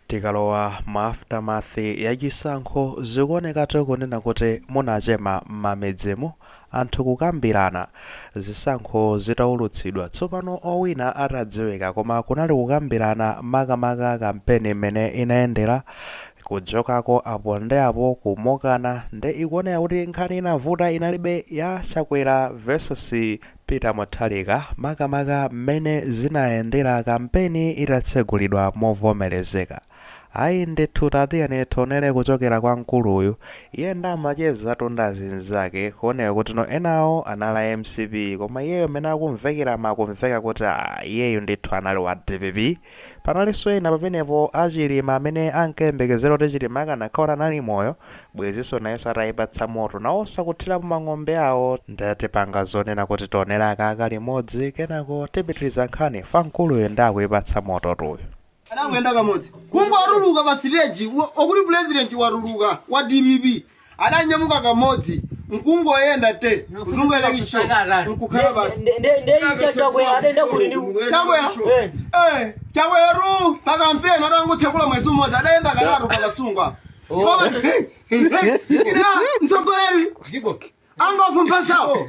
Tikalowa mu aftermath ya chisankho zikuonekatu kunena kuti munachema mmamidzimo anthu kukambirana zisankho zitaulutsidwa tsopano owina atadziwika koma kunali kukambirana makamaka kampeni mmene inayendera kujokako apo nde apo kumokana nde ikuoneka kuti nkhani inavuta inalibe ya Chakwera vs Peter Mutharika makamaka mmene zinayendera kampeni itatsegulidwa movomerezeka. Ayi ndithu tatiyeni tionere kuchokera kwa mkulu uyu, iye nde amachezatu ndi azinzake kuoneka kuti no enawo anali a mcp koma iyeyo mmene akumvekeramu akumveka kuti aah iyeyu ndithu anali wa dpp. Panalinso ena pamenepo a Chilima amene ankayembekezera kuti Chilima akanakhala kuti anali moyo, bwezinso nayenso atayipatsa moto, nawonso akuthirapo mang'ombe awo. Nde tipanga zonena kuti tionere akaka limodzi kenako tipitiriza nkhani ifa mkuluyu nde akuyipatsa mototu uyu. Adangoyenda kamodzi kungotuluka pa siteji akuti pulezidenti watuluka wa dpp adanyamuka kamodzi nkungoyenda te kuzungulira ichi nkukhala basi Nde- nde- nde Chakwera adayenda kuti ndi chakwera Eh. Eh, Chakwera pakampeni atangotsekula mwezi umodzi adayenda katatu pa Kasungu Koma- Ina, mtsogoleri angofumphasawo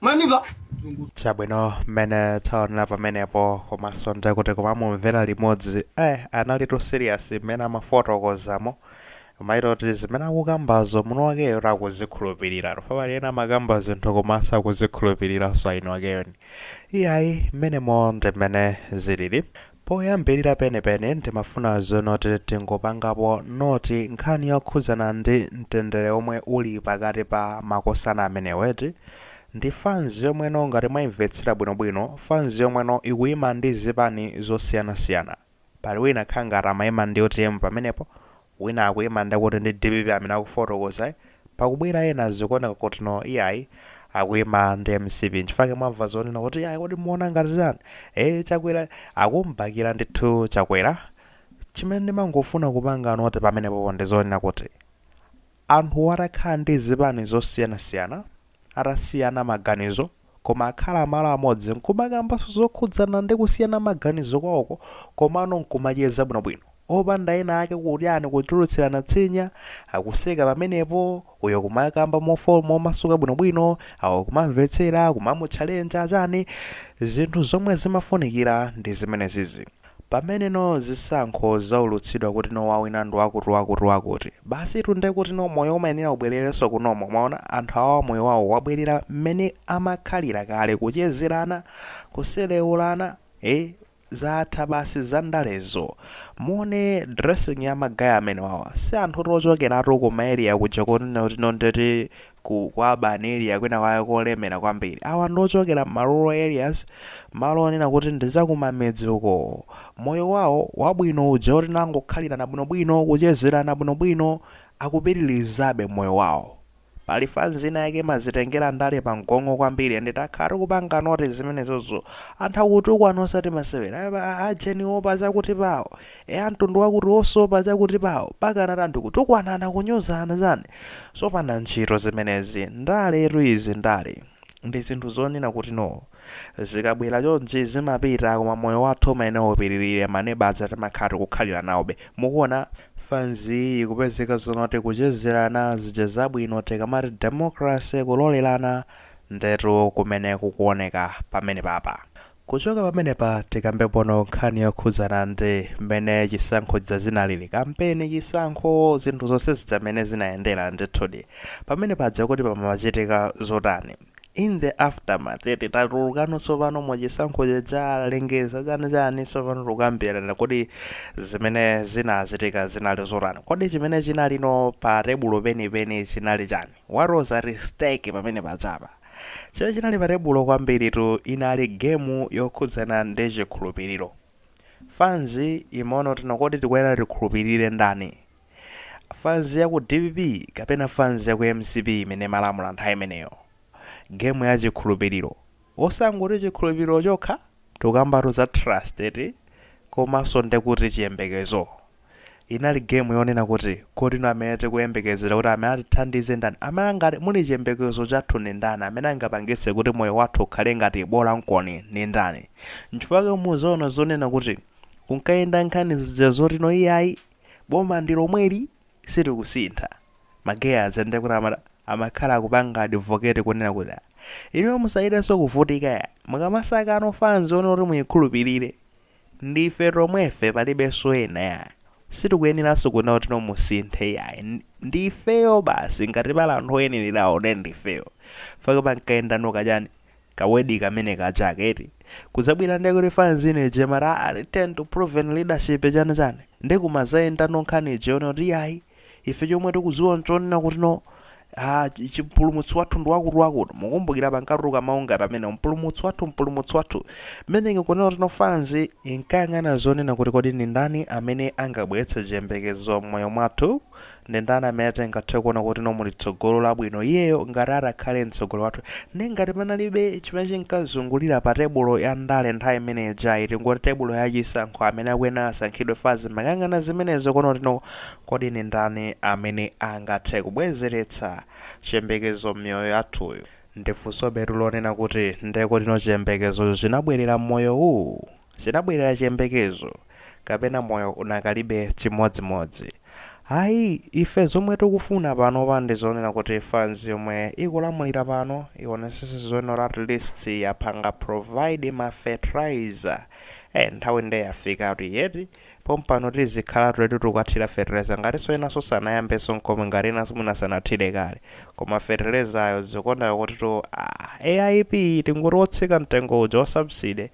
Mwandimva? chabwino mmene taonera pamenepo komanso nde kuti kumamumvera limodzi eh analitu serious mmene amafotokozamo umaona kuti zimene akukambazo mwiniwakeyo akuzikhulupiriratu ifa pali ena amakamba zinthu koma sakuzikhulupiriranso eni akewo ndi iyayi mmenemo ndi mmene zilili Poyambilira penipeni ndimafuna zonoti tingopangapo note nkhani yokhudzana ndi mtendere omwe uli pakati pa makosana amenewa eti, ndi fanzi yomweyo ngati mwaimvetsera bwinobwino fanzi yomweyo ikuima ndi zipani zosiyanasiyana. Pali wina akhala ngati amaima ndi utm pamenepo, wina akuima nde kuti ndi dpp amene akufotokoza pakubwera ena zikuoneka kuti no iyayi akuima ndi mcp nchifake mwamva zonena kuti iyayi kodi muona ngati chani ee chakwera akumubakira ndithu chakwera chimene ndimangofuna kupanga note pamenepopo ndizonena kuti Anthu atakhala ndi zipani zosiyanasiyana, atasiyana maganizo, koma akhala malo amodzi n'kumakamba zokhudzana ndi kusiyana maganizo kwawoko komano n'kumacheza bwinobwino, opanda ena ake kutyani kutulutsirana tsinya, akuseka pamenepo, uyo kumakamba momasuka bwinobwino, awo kumamvetsera, kumamutchalenja, chani, zinthu zomwe zimafunikira ndi zimenezizi. Pamene no zisankho zaulutsidwa kuti no wawina ndi wakuti wakuti wakuti, basitu nde kuti no moyo umayenera ubwererenso ku normal, mwaona, anthu awawa moyo wawo wabwerera mmene amakhalira kale, kuchezerana, kuselewulana, eh, zatha basi za ndalezo, muone dressing ya ma guy amenewawa, si anthutu ochokeratu ku ma area kuja koti no ndeti ku ku urban area kwina kwake kolemera kwambiri awa ndi ochokera ma rural areas malo onena kuti ndi zakumamidzi uko moyo wawo wabwino uja oti nangokhalirana bwinobwino kuchezerana bwinobwino akupitirizabe moyo wawo pali fanzi ina yake imazitengera ndale pa mgongo kwambiri ende takhala tikupanga noti zimenezozo anthu akutukwana osati masewera Aba- a- ajeniwo pa chakuti pawo e amtundu wakuti wosopa chakuti pawo pakana tanthu kutukwanana kunyozana chani sopanda ntchito zimenezi ndaletu izi ndale ndi zinthu zonena kuti no zikabwera chonchi zimapita koma moyo wathu umayenera upitirire maneba aja timakhala tikukhalira nawobe mukuona fanziyi ikupezeka zonoti kuchezerana zija zabwino tikamati democracy kulolerana ndetu kumene kukuoneka pamenepapa Kuchoka pamenepa tikambe pono nkhani yokhudzana ndi mmene chisankho chija chinalili, kampeni, chisankho, zinthu zonse zija mmene zinayendera ndithudi. Pamene paja kuti pamachitika zotani? In the aftermath eti tatulukano tsopano mu chisankho chija, alengeza chani chani tsopano tikukambirana kuti zimene zinachitika zinali zotani? Kodi chimene chinalino pa tebulo penipeni chinali chani? What was at stake pamene pajapa? Chimene chinali patebulo kwambiritu inali gemu yokhudzana ndi chikhulupiriro. Fans imaona kuti no kodi tikuyenera tikhulupirire ndani? Fans ya ku dpp kapena fans ya ku mcp imene imalamula nthawi imeneyo? Gemu ya chikhulupiriro. Osangoti chikhulupiriro chokha, tikukambatu za trust eti? Komanso nde kuti chiyembekezo. Inali gemu yonena kuti kodi no amene tikuyembekezera kuti amene atithandize ndani amene angati muli chiyembekezo chathu ni ndani amene angapangitse kuti moyo wathu ukhale ngati bola nkoni ni ndani nchifukwa chake muzaona zonena kuti kunkayenda nkhani zija zoti no iyayi boma ndi lomweli sitikusintha ma guy aja ndiye kuti amata amakhala akupanga advocate kunena kuti "Ah, inuyo musachitenso kuvutika ya mukamasaka ano fans one kuti muyikhulupirire Ndi ife tomwefe palibenso ena yayi. Sitikuyeneraso kunena kuti no musinthe yayi. Ndi ifeyo basi ngati pali anthu oyenerawo ndiye ndi ifeyo. Chifukwa pankayenda no kachani? Ka word kamene kaja aka eti. Kudzabwera ndiye kuti fans ina ija imati aah return to proven leadership chani chani. Ndiye kumazayenda no nkhani ija yonena kuti iyayi. ife chomwe tikudziwa nchonena kuti no a chi- chi- mpulumutsi wathu ndi wakuti wakuti mukumbukira pankatuluka mawu ngati amene mpulumutsi wathu mpulumutsi wathu mmene ndikunena kuti no fanzi inkayang'ana zonena kuti kodi ndi ndani amene angabweretse chiyembekezo m'moyo mwathu ndi ndani amene tingathe kuona kuti no muli tsogolo labwino iyeyo ngati atakhale mtsogoleri wathu ndi ngati panalibe chimene chinkazungulira pa tebulo ya ndale nthawi imene ijayi tingoti tebulo ya chisankho amene akuyenera asankhidwe fanzi imayang'ana zimenezo konoti no Kodi ndi ndani amene angathe kubwezeretsa chiyembekezo m'miyoyo yathuyi? Ndi funsobetu lonena kuti, Nde kuti no chiyembekezocho chinabwerera m'moyo uwu? Chinabwerera chiyembekezo? Kapena moyo unakalipobe chimodzimodzi? Ayi, ife zomwe tikufuna panopa ndi zonena kuti fanzi yomwe ikulamulira pano ionesese zonena kuti at least yapanga provide ma fertilizer. Eh, nthawi nde yafikatu iyi eti? Pompano tizikhalatu eti tikukathira fertilizer ngatinso enanso sanayambenso nkomwe ngati enanso mwina sanathire kale. Koma fertilizayo zikuoneka kutitu aah AIP iyi tingoti wotsika mtengo uja wa subsidy.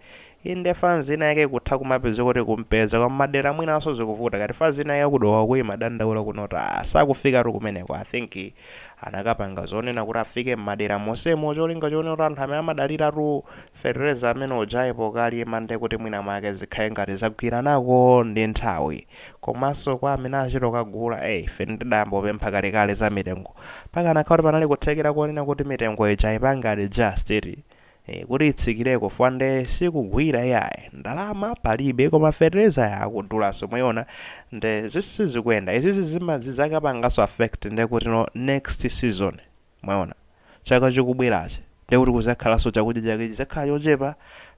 Inde fanzi ina yake ikutha kumapezeka kuti ikumpeza koma madera enanso zikuvuta ngati fanzi ina yake ya ku Dowa uko imadandaula kunoti aah sakufikatu kumeneko I think Anakapanga zonena kuti afike m'madera monsemo cholinga chonena kuti anthu amene amadaliratu fetereza amene ujayi pokalima ndiye kuti mwina mwake zikhale ngati zagwiranako ndi nthawi. Komanso kwa amene achita kukagula, eh, ife ndidayamba kupempha kalekale za mitengo. Pakanakhala kuti panali kuthekera konena kuti mitengo ija aipange adjust, eti? ee kuti itsikileko fwa nde sikugwira iyayi ndalama palibe koma fertilizer akudulaso mwayiona nde zi sizikuyenda izizi zima zizakapangaso affect nde kutino next season mwayiona chaka chikubwerachi nde kuti kuzakhalaso chakudya chake chizakhala chochepa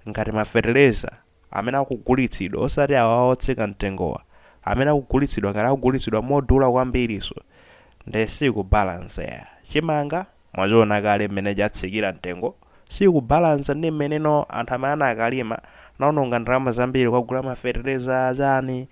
ngati ma fertilizer amene akugulitsidwa, osati awa a otsika mtengowa, amene akugulitsidwa ngati akugulitsidwa modula kwambirinso nde sizikubalansa ya chimanga mwachiona kale mmene chatsikira mtengo sizikubalansa ndi mmene no anthu amene akalima anaononga ndalama zambiri kukagula ma fetereza chani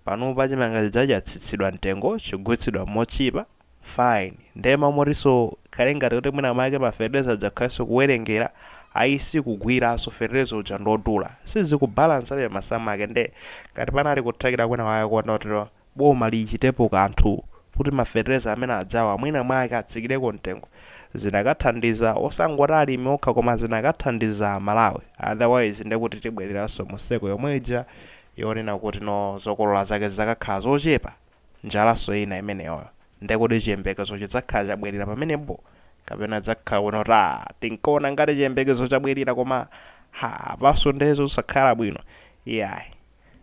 panopa chimanga chija chatsitsidwa mtengo chikugulitsidwa motchipa fine nde ma- motiso zikhale ngati kuti mwina mwake ma fetereza akakhalanso kuwelengera ayi sikugwilaso fetereza uja ndiodula sizikubalansabe masamu ake nde ngati panali kuthekera kwina kwake konoti boma lichitepo kanthu kuti ma fetereza amene ajawa mwina mwake atsikileko mtengo zinakathandiza osangoti alimi okha koma zinakathandiza Malawi otherwise ndekuti tibweleranso mu circle yomwe ija yonena kuti no zokolola zake zizakakhala zochepa Njalanso ina imeneyo. Nde kuti chiyembekezo chidzakhala chabwelera pamenepo? Kapena idzakhala kunoti aah tinkaona ngati chiyembekezo chabwelera koma ha apanso nde zosakhala bwino? Iyayi.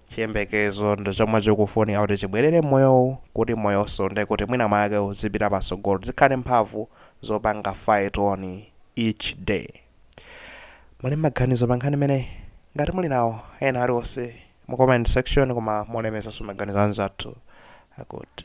Chiyembekezo ndi chomwe chikufunika kuti chibwelere mmoyowu kuti moyonso nde kuti mwina mwake uzipita patsogolo. Tizikhala ndi mphamvu zopanga fight on each day. Muli ndi maganizo pa nkhani imeneyi? Ngati muli nawo ena aliwonse mu comment section koma molemekezanso maganizo anzathu akuti.